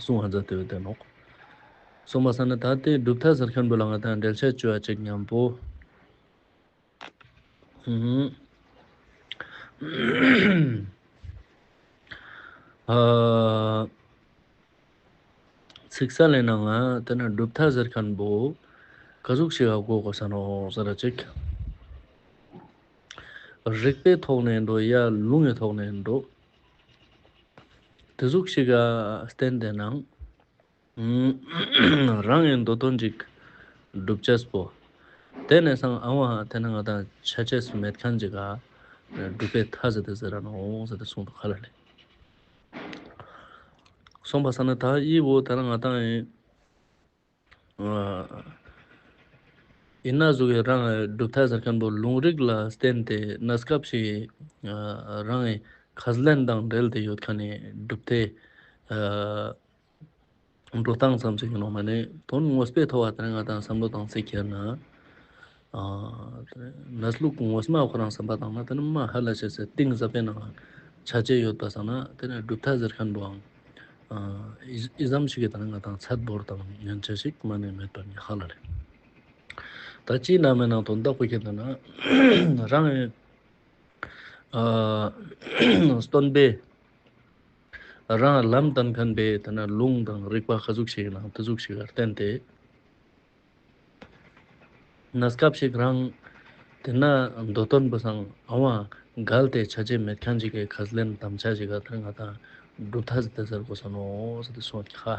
གསུང་བ་མཛད་དེ་བས་བསྟན་ནོ། གསུངས་པ་ས་ནི་ད་སྟེ་སྒྲུབ་ཐབས་ཟེར་མཁན་པོ་ལ་ང་དང་འབྲེལ་ཆད་བཅོལ་བ་ཅིག་སྙམ་པོ། ཚིག་གསལ་ལེན་ནའང་དེ་ནི་སྒྲུབ་ཐབས་ཟེར་མཁན་པོ་ག་གཟུགས་ཞིག་ག་གོ་གོ་ས་ནོ་ཟེར་ར་ཅིག། རིགས་པའི་ཐོག་ནས་འགྲོ་ཡ་ལུང་གི་ཐོག་ནས་འགྲོ། དེ་གཟུགས་ཤིག་ག་བསྟན་དེ་ན། རང་ཡི་འདོད་དོན་ཅིག་བསྒྲུབ་བྱས་སྤོ། དེ་ནས་སང་ཨ་ཝང་དེ་ན་ང་དང་ཆ་ཆས་སུ་མེད་མཁན་ཅིག་ག་སྒྲུབ་པའི་ཐ་ཟེར་ཏེ་ཟེར་ར་ནོ་ཟེར་ཏེ་གསུངས་འདུག་ག་ལ་ལས། གསུངས་པ་ས་ན་ད་ཡིད་བོ་དེ་ན་ང་དང་ཡིན། ཡིན་ན་གཟུགས་ཡོད་རང་གི་གྲུབ་མཐའི་གཟུགས་ཆེན་པོ་ལུང་རིགས་ལ་བརྟེན་ཏེ་གནས་སྐབས་ཤིག་རང་གི་ཁ་ཟླན་དང་སྦྲེལ་ཏེ་ཡོད་ཁ་ནས་གྲུབ་མཐའི་འགྲོ་སྟངས་ཙམ་ཞིག་ཡིན་ནོ་མ་ནི་དོན་དངོས་སྤེལ་ཐོ་བ་དེར་ང་དང་བསམ་བློ་དང་བརྩི་འཁྱེར་ན། ན་ཟླུ་གུང་བོ་སྨྲ་ཁོ་རང་བསམ་པ་དང་ན་དེ་ནི་མ་ཧཱ་ལ་ཤཱས་ཟེར་ཏིང་ཟབ་པའི་ནང་ལ་བྱ་བྱེད་ཡོད་པ་བསམ་ན་དེ་ནི་གྲུབ་མཐའ་ཟེར་མཁན་པོའང་ཨི་ཟམ་ཞིག་གིས་ད་ནི་ང་དང་ཚད་འབོར་དང་མཉམ་བྱ་ཞིག་སྨྲ་ནི་མེད་པ་ཉི་ཧ་ལ་རེད། ད་སྤྱིའི་ནང་མའི་ནང་དོན་བདག་པོ་ཁྱེད་ལྟ་ན་རང་ཨེ་སྟོན་པས་རང་ལམ་བསྟན་མཁན་པས་དེ་ནི་ལུང་དང་རིགས་པ་ག་གཟུགས་ཤིག་ཡིན་ནའང་དེ་གཟུགས་ཤིག་གར་བསྟན་ཏེ། ན་སྐབས་ཤིག་རང། དེ་ན་མདོ་སྟོན་པ་སངས་ཨ་བ་འགལ་ཏེ་བྱ་བྱེད་མེད་ཁྱང་ཅིག་གི་གར་ལེན་དམ་བཅའ་ཞིག་ག་དར་ང་དང་སྒྲུབ་ཐ་ཟི་ཏི་ཟེར་དགོས་ས་ནོ་ཟི་ཏི་སོགས་ཁྱ།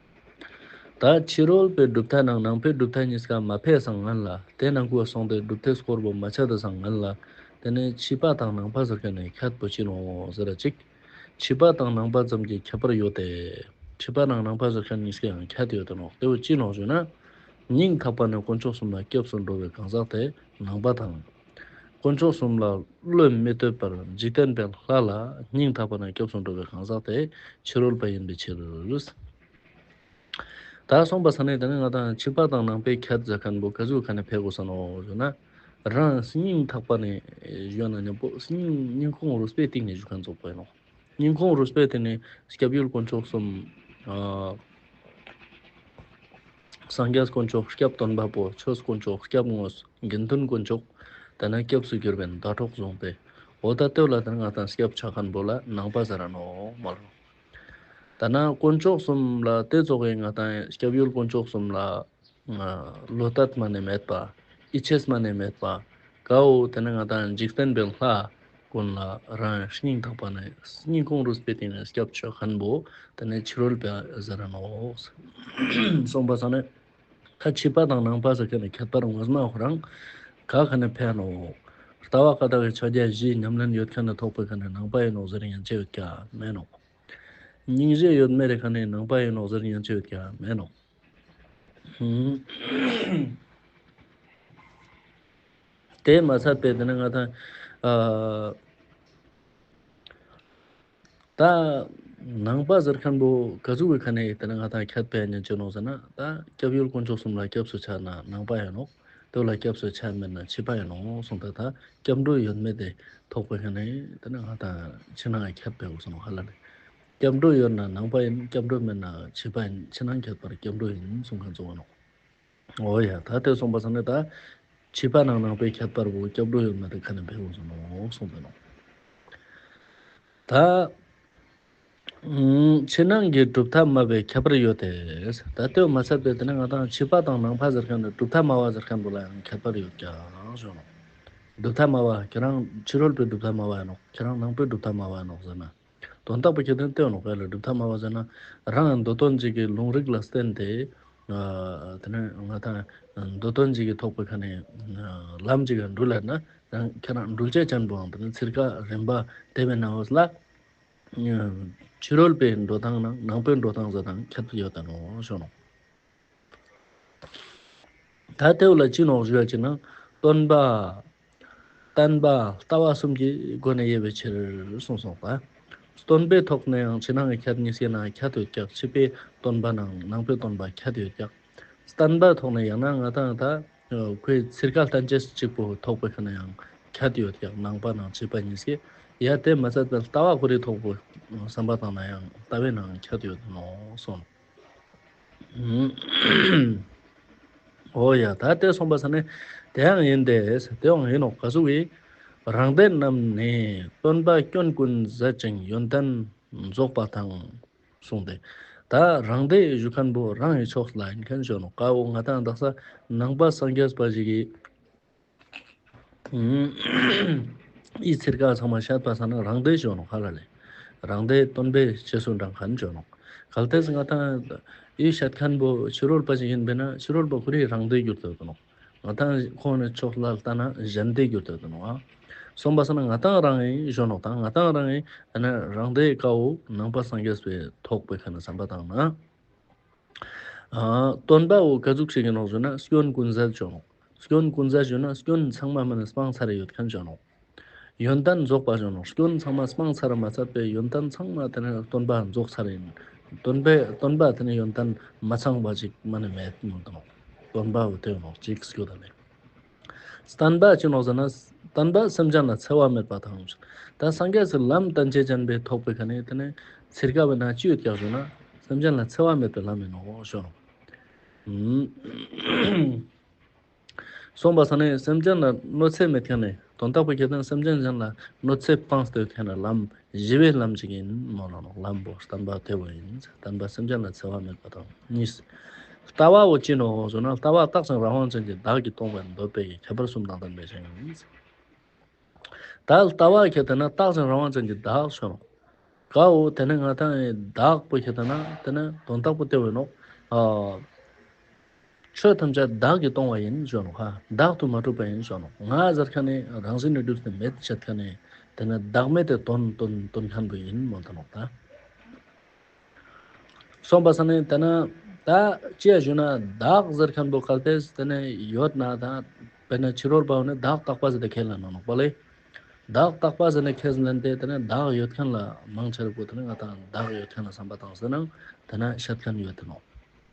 ད་ཕྱི་རོལ་པའི་གྲུབ་མཐའ་ནང་ནང་པའི་གྲུབ་མཐའ་གཉིས་ཀ་མ་ཕེབས་བཟང་ངན་ལ་དེ་ནང་ཁུལ་སོང་སྟེ་གྲུབ་མཐའི་སྐོར་བོ་མ་ཆགས་ཏེ་བཟང་ངན་ལ་དེ་ནི་ཕྱི་པ་དང་ནང་པ་ཟེར་མཁན་ནས་ཁྱད་དུ་ཕྱིན་འོང་ཟེར་ར་ཅིག་ཕྱི་པ་དང་ནང་པ་ཙམ་གྱི་ཁྱད་པར་ཡོད་དེ། ཕྱི་པ་ནང་ནང་པ་ཟེར་མཁན་གཉིས་ཀའང་ཁྱད་དུ་ཡོད་དོན་འོག་དེ་བོ་ཅི་ལོག་ཞུས་ན། སྙིང་ཐག་པ་ནས་དཀོན་མཆོག་གསུམ་ལ་སྐྱབས་སུ་འགྲོ་བའི་གང་ཟག་དེ་ནང་པ་དང། དཀོན་མཆོག་གསུམ་ལ་བློས་མི་གཏོད་པར་འཇིག་རྟེན་པའི་ལྷ་ལ་སྙིང་ཐག་པ་ནས་སྐྱོབས་སུ་འགྲོ་བའི་གང་ཟག་དེ་ཕྱི་རོལ་པ་ཡིན་པའི་ཕྱིར། དག་གསུངས་པ་ས་ནི་དེ་ནི་ང་དང་ཕྱི་པ་དང་ནང་པའི་ཁྱད་མཛའ་མཁན་པོ་ག་ཟུག་ག་ནི་ཕས་གོ་ས་ནོ་ཞུ་ན། རང་སྙིང་ཐག་པ་ནས་གཞོན་ན་ནི་པོ་སྙིང་ཁོང་རུས་པའི་གཏིང་ནས་གཞུ་མཁན་ཚོ་པོ་ཡིན་ནོ། སྙིང་ཁོང་རུས་པའི་གཏིང་ནས་སྐྱབས་ཡུལ་དཀོན་མཆོག་གསུམ། སངས་རྒྱས་དཀོན་མཆོག་སྐྱབས་སྟོན་པ་པོ་ཆོས་དཀོན་མཆོག་སྐྱབས་དངོས་སུ་དགེ་འདུན་དཀོན་མཆོག་དེ་ན་སྐྱབས་སུ་གྱུར་པའི་ཟླ་གྲོགས་བཟུང་སྟེ་འོ་ད་སྟོད་ལ་དེར་ང་དང་སྐྱབས་བྱ་མཁན་པོ་ལ་ནང་པ་ཟེར་ནོ་མ་རུ། ད་ན་དཀོན་མཆོག་གསུམ་ལ་དེ་རྫོགས་བའི་ང་དང་སྐྱབས་ཡུལ་དཀོན་མཆོག་གསུམ་ལ་ལོ་ལྟ་སྨྲ་ནས་མེད་པ་ཨི་ཆེས་སྨྲ་ནས་མེད་པ་གའོ་དེ་ན་ང་དང་འཇིག་རྟེན་པའི་ལྷ། ཀུན་ལ་རང་སྙིང་དག་པ་ནི་སྙིང་ཁོང་རུས་པའི་སྟེང་ནས་སྐྱབས་མཆོག་མཁན་པོ་དེ་ནི་ཕྱི་རོལ་པའི་གཟི་རིན་ནོ། གསུངས་པ་ས་ནི་ཁ་ཕྱི་པ་དང་ནང་པ་ཟེར་མཁན་ནི་ཁྱད་པར་ངོས་སྣང་བོ་རང་ག་ག་ནི་ཕན་ནོ། ལྟ་བ་ཀ་ལྟ་བའི་ཕྱག་རྒྱ་བཞིའི་ཉམས་ལེན་ཡོད་མཁན་ནི་ཐོག་པའི་ག་ནི་ནང་པ་ཡིན་ནོ་ཟེར་ཡན་ཆད་ཡོད་ཀྱང་མེད་ནོ། སྙིང་རྗེ་ཡོད་མེད་རེ་ག་ནི་ནང་པ་ཡིན་ནོ་ཟེར་ཡན་ཆད་ཡོད་ཀྱང་མེད་ནོ། དེས་མ་ཚར་པས་དེ་ནི་ང་དང། ད། ནང་པ་ཟེར་མཁན་པོ་ག་ཚོད་ཀྱི་ཁ་ནས་དེ་ནི་ང་དང་ཁྱད་པས་ཉན་ཅི་ནོག་ཟེར་ན་ད་སྐྱབས་ཡུལ་དཀོན་མཆོག་གསུམ་ལ་སྐྱབས་སུ་ཆགས་ན་ནང་པ་ཡིན་ནོག་དོལ་ལ་སྐྱབས་སུ་ཆགས་མེད་ན་ཕྱི་པ་ཡིན་ནོག་གསུངས་ད་ད་སྐྱབས་འགྲོ་ཡོད་མེད་དེ་དོགས་པའི་ཁ་ནས་དེ་ནི་ང་དང་ཕྱི་ནང་ཁྱད་པས་གསུངས་ཧ་ལ་ལས། སྐྱབས་འགྲོ་ཡོད་ན་ནང་པ་ཡིན་སྐྱབས་འགྲོ་མེད་ན་ཕྱི་པ་ཡིན་ཕྱི་ནང་ཁྱད་པར་སྐྱབས་འགྲོ་ཡིན་གསུངས་ཁ་འཛོ་བ་ནོག། ཨོ་ཡ། ད་དེ་སོང་བ་སོང་ནས་ད། བྱིས་པ་ནང་ནང་པའི་ཁྱད་པར་བུ་སྐྱབས་འགྲོ་ཡོད་མ་རེད་ཁ་ནས་འཕེན་འོང་སོང་ནོ་གསུངས་པས་ནོ། ད། ཕྱི་ནང་གི་གྲུབ་མཐའ་སྨྲ་བའི་ཁྱད་པར་ཡོད་དེ། ད་ལྟོས་མ་ཟད་པའི་དེ་ནས་ང་དང་བྱིས་པ་དང་ནང་པ་ཟེར་མཁན་ནི་གྲུབ་མཐའ་སྨྲ་བ་ཟེར་མཁན་དུ་ལ་ཡང་ཁྱད་པར་ཡོད་ཀྱང་གསུངས་ནོ། གྲུབ་མཐའ་སྨྲ་བ་ཁྱེད་རང་ཕྱི་རོལ་པའི་གྲུབ་མཐའ་སྨྲ་བ་ཡིན་ནོ་ཁྱེད་རང་ནང་པའི་གྲུབ་མཐའ་སྨྲ་བ་ཡིན་ནོ་ཟེར་ན། དོན་རྟག་པའི་ཁྱད་དོན་སྟོན་ལོག་པས་ལ་སྒྲུབ་ཐབས་སྨྲ་བར་བྱེད། རང་ཡང་མདོ་སྟོན་གཅིག་གིས་ལུང་རིགས་ལ་བསྟན་ཏེ། དེ་ནས་ང་དང་མདོ་སྟོན་གཅིག་གིས་ཐོག་པའི་ཁ་ནས་ལམ་གཅིག་གིས་འགྲུལ་ལ། ཁྱེད་རང་འགྲུལ་བྱེད་ཅན་པོའང་དེ་ནས་ཚིར་ཁ་རན་པ་དེ་བས་ན་འོས་སླ། ཕྱི་རོལ་པའི་འགྲོ་སྟངས་ནང་པའི་འགྲོ་སྟངས་ཟེར་ན་ཁྱད་ཡོད་དམ་ཞོག་ནོ། ད་ལྟའི་བར་ལ་ཅི་ནོག་བརྗོད་ཅེ་ན། སྟོན་པ། བསྟན་པ། ལྟ་བ་གསུམ་གྱི་སྒོ་ནས་དབྱེ་བའི་ཕྱིར་གསུངས་སོ། སྟོན་པའི་ཐོག་ནས་ཡང་ཕྱི་ནང་གི་ཁྱད་གཉིས་བཤད་ན་ཁྱད་དུ་བཅག་ཕྱི་པའི་སྟོན་པ་དང་ནང་པའི་སྟོན་པ་ཁྱད་དུ་བཅག། བསྟན་པའི་ཐོག་ནས་ཡང་ན་ང་དང་ད་ཁོའི་ཚིག་ཁ་ལྷན་ཅིག་གཅིག་པུ་ཐོག་པའི་ཁ་ན་ཡང་ཁྱད་དུ་བཅག་ནང་པ་དང་ཕྱི་པ་གཉིས་བཤད། ཡང་དེ་མ་ཚད་པར་ལྟ་བ་གོ་རིག་ཐོག་པའི་བསམ་པ་དང་ན་ཡང་ལྟ་བའི་ནང་ཁྱད་དུ་ཡོད་དོ་གསུངས། ཨོ་ཡ། ད་ལྟའི་གསུངས་པ་ས་ནི་དེའང་ཡིན་ཏེ། དེའང་ཡིན་ནོ་ག་སུ་བའི། རང་སྡེ་རྣམས་ནི་སྟོན་པ་སྐྱོན་ཀུན་ཟད་ཅིང་ཡོན་ཏན་རྫོགས་པ་དང། གསུངས་ཏེ། ད་རང་སྡེ་ཡི་གཞུ་མཁན་པོ་རང་ཡི་ཕྱོགས་སུ་ལ་ཡིན་མཁན་བྱོན་ནོ་གའོ་ང་དང་བདག་ས་ནང་པ་སངས་རྒྱས་པ་ཞིག་གིས། ཨི་ཚེར་ཀ་ཚང་མ་ཤ་ཏོག་ཚང་ན་རང་སྡེ་ཞོ་ནོ་ཁ་ལ་ལེ། རང་སྡེ་སྟོན་པའི་ཕྱེ་སོ་འདྲ་གང་ཅོ་ནོ། གལ་ཏེ་སྔ་ཐང་ཨི་ཤ་ཐན་པོ་ཕྱི་རོལ་པ་ཞིག་ཡིན་པས་ན་ཕྱི་རོལ་པ་ཁོ་རིག་རང་སྡེ་གྱུར་དོད་དོ་ནོ། ང་ཐང་ཁོང་ནི་ཕྱོགས་ལ་ལྟ་ན་གཞན་སྡེ་གྱུར་དོད་དོ་ནོ། གསུམ་པ་ས་ན་ང་ཐང་རང་ཨི་ཞོ་ནོ་དང་ང་ཐང་རང་ཨི་ཨ་ན་རང་སྡེ་ཀ་འོ་ནང་པ་སངས་རྒྱས་པའི་ཐོག་པའི་ཁ་ན་ཟམ་པ་དང་ན། སྟོན་པ་འོ་ག་གཟུགས་ཤིག་ཡིན་ནོ་ཟོས་ན་སྐྱོན་ཀུན་སེལ་ཅོ་ནོ། སྐྱོན་ཀུན་ཟད་བྱོས་ན་སྐྱོན་ཚང་མ་མིན་སྤང་ཚར་ཡོད་མཁན་བྱོས་ནོ། ཡོན་ཏན་རྫོགས་པ་བྱོས་ན་སྐྱོན་ཚང་མ་སྤང་ཚར་མ་ཚར་པའི་ཡོན་ཏན་ཚང་མ་དེ་ནི་སྟོན་པ་རྫོགས་ཚར་ཡིན། སྟོན་པས་སྟོན་པ་དེ་ནི་ཡོན་ཏན་མི་ཚང་བ་ཅིག་མ་ནི་མེད་མི་འདུག་ནོ། སྟོན་པ་འོད་དོད་ནོ་ཅིག་སྐྱོ་དང་ལྡན། སྟོན་པ་ཅི་ནོ་ཟེར་ན་སྟོན་པ་སེམས་ཅན་ལ་འཚེ་བ་མེད་པ་དང། ད་སངས་རྒྱས་སུ་ལམ་སྟོན་བྱེད་ཅན་པའི་ཐོག་པའི་ག་ནི་དེ་ནི་ཚེར་ག་བས་ན་ཅི་ཡོད་ཀྱང་བྱོས་ན་སེམས་ཅན་ལ་འཚེ་བ་མེད་པའི་ལམ་ཡིན་ནོ་བྱོས་ནོ། གསུངས་པ་ས་ནི་སེམས་ཅན་ལ་གནོད་འཚེ་མི་ཐེང་ནས་དོན་རྟོགས་པའི་སྐལ་ལྡན་སེམས་ཅན་གཞན་ལ་གནོད་འཚེ་སྤངས་སྟོད་ཐེང་ནས་ལམ་བཞི་པའི་ལམ་གཅིག་ཡིན་མོད་ལ་ལམ་པོ་བསྟན་པ་དེ་བས་ཡིན་ཚེ་བསྟན་པ་སེམས་ཅན་ལ་འཚེ་བ་མེད་པ་དང་གཉིས། ལྟ་བའོ་ཅི་ནུའོ་ཟེར་ན་ལྟ་བ་རྟགས་ཅན་རང་དབང་ཅན་གྱི་བདག་གིས་སྟོང་པའི་འདོད་པའི་ཁྱད་པར་གསུམ་དང་ལྡན་པའི་ཕྱིར། ད་ལྟ་བ་གལ་ཏེ་ན་རྟགས་ཅན་རང་དབང་ཅན་གྱི་བདག་ཆོས། གའོ། དེ་ནས་ང་ཐང་ཡི་དྭགས་པོ་ཞེས་བཏགས་ན་དེ་ནི་དོན་དག་པོ་སྟེར་བས་ནོ། ཆོས་ཐམས་ཅད་བདག་གིས་སྟོང་བ་ཡིན་ཞོ་ནོ། བདག་ཏུ་མ་གྲུབ་པ་ཡིན་ཞོ་ནོ། ང་ཟེར་ཁ་ནི་རང་བཞིན་ནི་གྲུབ་ཏུ་མེད་ཅེས་ཐོས་ནས་དེ་ནི་བདག་མེད་དེ་དོན་དོན་དམ་དུ་ཡིན་མོད་དོ། གསུམ་པ་ས་ནི་དེ་ན་ད་ཅེས་ཞུས་ན་བདག་ཟེར་མཁན་པོ་ག་གེས་དེ་ནི་ཡོད་ན་ད་བས་ན་ཕྱི་རོལ་པའོ་ནི་བདག་རྟག་པ་ཟེར་ཏེ་ཁས་ལེན་ནོ་ནོག་པ་ལས། བདག་རྟག་པ་ཟེར་ནས་ཁས་ལེན་ཏེ་དེ་ནས་བདག་ཡོད་མཁན་ལ་མང་ཆེ་བས་བུ་དེ་ནི་ང་དང་བདག་ཡོད་མཁན་ལ་བསམ་པ་དང་ཟེར་ན་དེ་ནི་ཤེར་ཕྱིན་ཡོད་དེ་ནོ།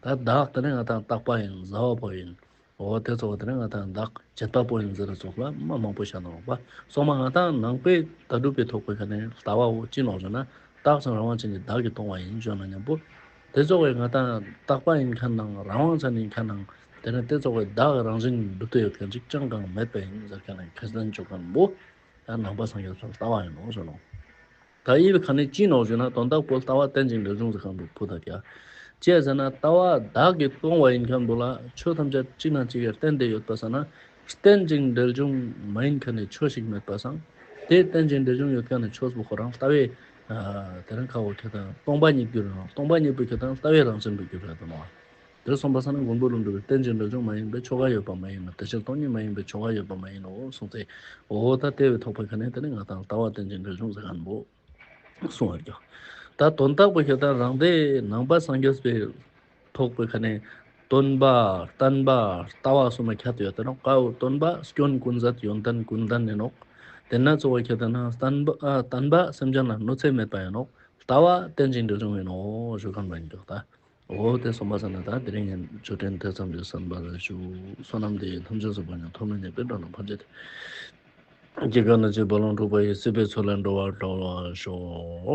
ད་བདག་དེ་ནི་ང་དང་རྟག་པ་ཡིན་བཟའ་བ་པོ་ཡིན། འོ་དེ་ཚོ་བ་དེ་ནི་ང་དང་བདག་བྱེད་པ་པོ་ཡིན་ཟེར་བ་སོགས་ལ་མ་མང་པོ་བཞག་ན་འོག་པ་སོག་མ་ང་དང་ནང་པའི་ལྟ་གྲུབ་པའི་ཐོག་བོད་ཁ་ནས་ལྟ་བའོ་ཅི་ནོ་ཟེར་ན་རྟག་ཅིང་རང་དབང་ཅན་གྱི་བདག་གིས་སྟོང་བ་ཡིན་བརྗོད་ན་སྙམ་པོ། དེ་རྫོགས་བའི་ངེས་དང་རྟག་པ་ཡིན་མཁན་དང་རང་དབང་ཅན་ཡིན་མཁན་དང་དེ་ནས་དེ་རྫོགས་བའི་བདག་གི་རང་བཞིན་ཡིན་སྒྲུབ་ཐབས་ཡོད་མཁན་གཅིག་ཅང་གང་མེད་པས་ཡིན་ཟེར་མཁན་ནི་མཁས་བཙན་བྱོལ་བོན་པོ་ཡང་ནང་པ་སངས་རྒྱས་ཚོར་ལྟ་བ་ཡིན་ནོ་ཟེར་ནོ། ད་ཡིད་ལ་ག་ནས་ཅི་ནོར་ཞུས་ན་དོན་དག་པོ་ལྟ་བ་རྟེན་ཅིང་འབྲེལ་འབྱུང་ཟེར་གང་འདུག་བུ་དང་གྱ། ཅེས་ཟེར་ན་ལྟ་བ་བདག་གིས་སྟོང་བ་ཡིན་མཁན་འདུག་ལ་ཆོས་ཐམས་ཅད་གཅིག་ན་གཅིག་གི་རྟེན་དེ་ཡོད་པ་ཟེར་ན་རྟེན་ཅིང་འབྲེལ་འབྱུང་མ་ཡིན་མཁན་ནི་ཆོས་ཤིག་མེད་པ་སངས་དེས་རྟེན་ཅིང་འབྲེལ་འབྱུང་ཡོད་མཁན་ནི་ཆོས་སུ་ཁོ་རང་ལྟ་བས་དེ་རིང་ཁ་བའི་ཐོས་དང་སྟོང་པ་ཉིད་ཀྱིས་རང་སྟོང་པ་ཉིད་པའི་ཐོས་དང་ལྟ་བའི་རང་བཞིན་པའི་རྒྱུད་ལས་དང། དེར་གསུངས་པ་ས་ན་མགོན་པོ་ལུང་སྒྲོལ་བའི་རྟེན་ཅིང་འདྲ་བྱུང་མ་ཡིན་པའི་ཆོ་ག་ཡོད་པ་མ་ཡིན་ནོ་དེ་ཕྱིར་སྟོང་ཉིད་མ་ཡིན་པའི་ཆོ་ག་ཡོད་པ་མ་ཡིན་ནོ་གསུངས་ཚེ། འོ་ད་ལྟའི་བའི་ཐོག་པ་ག་ནས་དེ་ནི་ང་དང་ལྟ་བ་རྟེན་ཅིང་འདྲ་བྱུང་ཟེར་ག་ནས་བོ། གསུང་བར་གྱིས། ད་དོན་དག་པོ་ཞེ་སྡང་རང་སྡེ་ནང་པ་སངས་རྒྱས་པའི། ཐོག་པའི་ཁ་ནས། སྟོན་པ། བསྟན་པ། ལྟ་བ་གསུམ་ལ་ཁྱད་དུ་ཡོད་དོ་ནོ། ཀའོ། སྟོན་པ། སྐྱོན་ཀུན་ཟད་ཡོན་ཏན་ཀུན་ལྡན་ཡིན་ནོ། དེས་ན་གཙོ་བོ་ཁྱད་དུ་ན། བསྟན་པ། བསྟན་པ། སེམས་ཅན་ལ་གནོད་འཚེ་མེད་པ་ཡིན་ནོ། ལྟ་བ། རྟེན་ཅིང་འབྲེལ་འབྱུང་ཡིན་ནོ། ཞུ་ཁམས་རང་རྒྱུད་ལྟ། འོ། དེ་གསུམ་པ་ཟེར་ན་ད་དེ་རིང་ངས་ཆོས་ཕྲན་དེ་ཙམ་གྱིས་ཟིན་པར་ཞུ། བསོད་ནམས་དེ་ཡི་ཐམས་ཅད་གཟུགས་པ་ཉིད་ཐོག་མེད་ནས་དཔེར་སྒྲོན་ལ་ཕར་འཇལ་ཏེ། སྐྱེ་རྒ་ན་འཆིའི་རྦ་ཀློང་དཀྲུགས་པ་ཡི་སྲིད་པའི་ཚུལ་ལས་འགྲོ་བར་གྲོལ་བར་ཤོག།